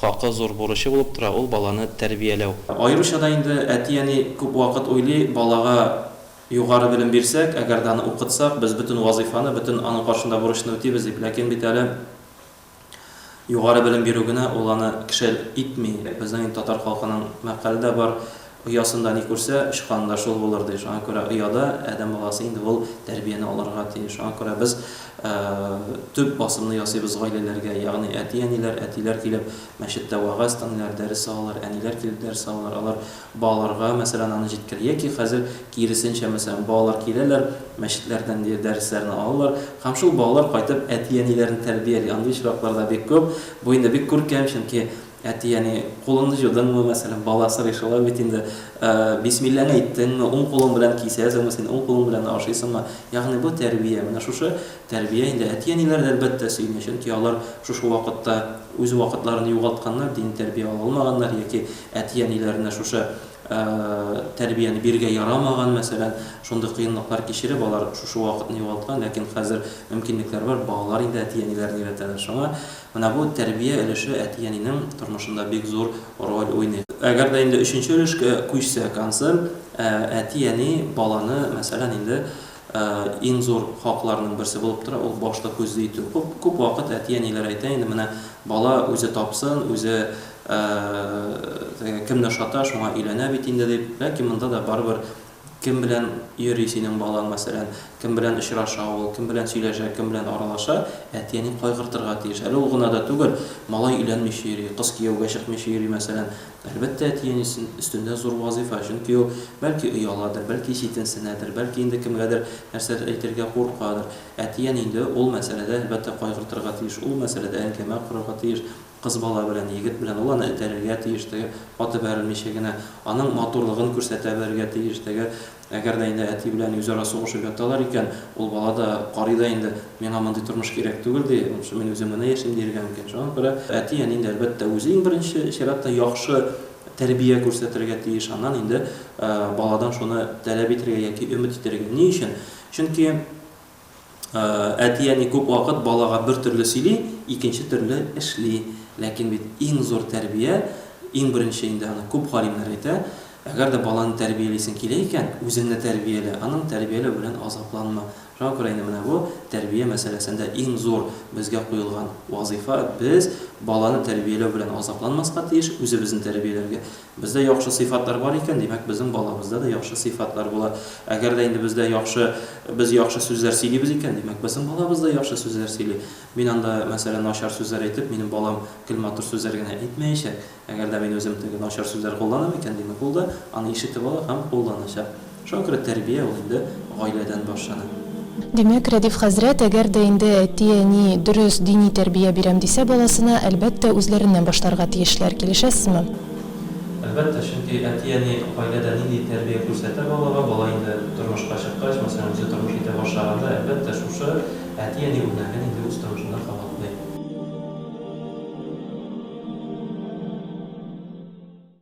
Хакы зур бурычы булып тора ул баланы тәрбияләү. Аеруча да инде әти-әни күп вакыт уйлый, балага югары белем бирсәк, әгәр дә аны укытсак, без бөтен вазыйфаны, бөтен аның каршында бурычны үтибез дип. Ләкин бит әле югары белем бирү генә ул аны кеше итми. Безнең инде татар халкының мәкале дә бар. Оясында ни күрсә, очканы да шул булыр, ди. Шуңа күрә ояда адәм баласы инде ул тәрбияне алырга тиеш. Шуңа күрә без төп басымны ясыйбыз гаиләләргә, ягъни әти-әниләр, әтиләр килеп мәчеттә вәгазь тыңлыйлар, дәрес алалар, әниләр килеп дәрес алалар. Алар балаларга, мәсәлән, аны җиткерә. Яки хәзер киресенчә, мәсәлән, балалар киләләр, мәчетләрдән ди дәресләрне алалар һәм шул балалар кайтып әти-әниләрен тәрбияли. Андый очраклар да бик күп. Бу инде бик күркәм, чөнки Әти-әни, кулыңны җудыңмы, мәсәлән, бала сорый шулай бит инде, бисмилләңне әйттеңме, уң кулың белән кисәсеңме, син уң кулың белән ашыйсыңмы? Ягъни бу тәрбия. Менә шушы тәрбия инде. Әти-әниләр дә, әлбәттә, сөенә, чөнки алар шушы вакытта үз вакытларын югалтканнар, дини тәрбия ала алмаганнар яки әти-әниләренә шушы тәрбияне бирергә ярамаган, мәсәлән, шундый кыенлыклар кичереп, алар шушы вакытны югалткан, ләкин хәзер мөмкинлекләр бар, балалар инде әти-әниләрен өйрәтәләр. Шуңа Менә бу тәрбия өлеше әти-әнинең тормышында бик зур роль уйный. Әгәр дә инде өченче өлешкә күчсәк, концерт, ә, әти-әни баланы, мәсәлән, инде, ә, иң зур хакларының берсе булып тора, ул башта күзле итү. Күп, күп вакыт әти-әниләр әйтә инде, менә бала үзе тапсын, үзе, ә, кемне ошата, шуңа өйләнә бит инде, дип. Ләкин монда да барыбер Кем белән йөри синең балаң, мәсәлән, кем белән очраша ул, кем белән сөйләшә, кем белән аралаша, әти-әни кайгыртырга тиеш. Әле ул гына да түгел, малай өйләнмичә йөри, кыз кияүгә чыкмыйча йөри, мәсәлән, әлбәттә, әти-әнисен өстендә зур вазыйфа, чөнки ул, бәлки, ояладыр, бәлки, читенсенәдер, бәлки, инде кемгәдер нәрсәдер әйтергә куркадыр. Әти-әни инде ул мәсьәләдә, әлбәттә, кайгыртырга тиеш, ул мәсьәләдә әңгәмә корырга тиеш. Кыз бала белән егет белән ул аны этәрергә тиеш теге, каты бәрелмичә генә, аның матурлыгын күрсәтә белергә тиеш теге. Әгәр дә инде әти белән үзара сугышып яталар икән, ул бала да карый да инде, миңа мондый тормыш кирәк түгел, ди, лучше мин үзем генә яшим, диергә мөмкин. Шуңа күрә әти, әни инде, әлбәттә, үзе иң беренче чиратта яхшы тәрбия күрсәтергә тиеш, аннан инде баладан шуны таләп итәргә яки өмет итәргә. Ни өчен? Чөнки. Әти-әни күп вакыт балага бер төрле сөйли, икенче төрле эшли. Ләкин бит иң зур тәрбия, иң беренче инде аны күп галимнәр әйтә, әгәр дә баланы тәрбиялисең килә икән, үзеңне тәрбиялә, аның тәрбияләү белән азапланма. Шуңа күрә инде менә бу тәрбия мәсьәләсендә иң зур безгә куелган вазыйфа, без баланы тәрбияләү белән азапланмаска тиеш, үзебезне тәрбияләргә Бездә яхшы сыйфатлар бар икән, димәк, безнең балабызда да яхшы сыйфатлар була. Әгәр дә инде бездә яхшы, без яхшы сүзләр сөйлибез икән, димәк, безнең балабыз да яхшы сүзләр сөйли. Мин анда, мәсәлән, начар сүзләр әйтеп, минем балам гел матур сүзләр генә әйтмәячәк. Әгәр дә мин үзем теге начар сүзләр кулланам икән, димәк, ул да аны ишетеп ала һәм кулланачак. Шакры тәрбия ул инде гаиләдән башлана. Димәк, Рәдиф хәзрәт, әгәр дә инде әти-әни дөрес дини тәрбия бирәм дисә баласына, әлбәттә, үзләреннән башларга тиешләр. Килешәсезме? Әлбәттә, чөнки әти-әни гаиләдә нинди тәрбия күрсәтә балага, бала инде тормышка чыккач, мәсәлән, үзе тормыш итә башлаганда, әлбәттә, шушы әти-әни үрнәген инде үз тормышында кабатлый.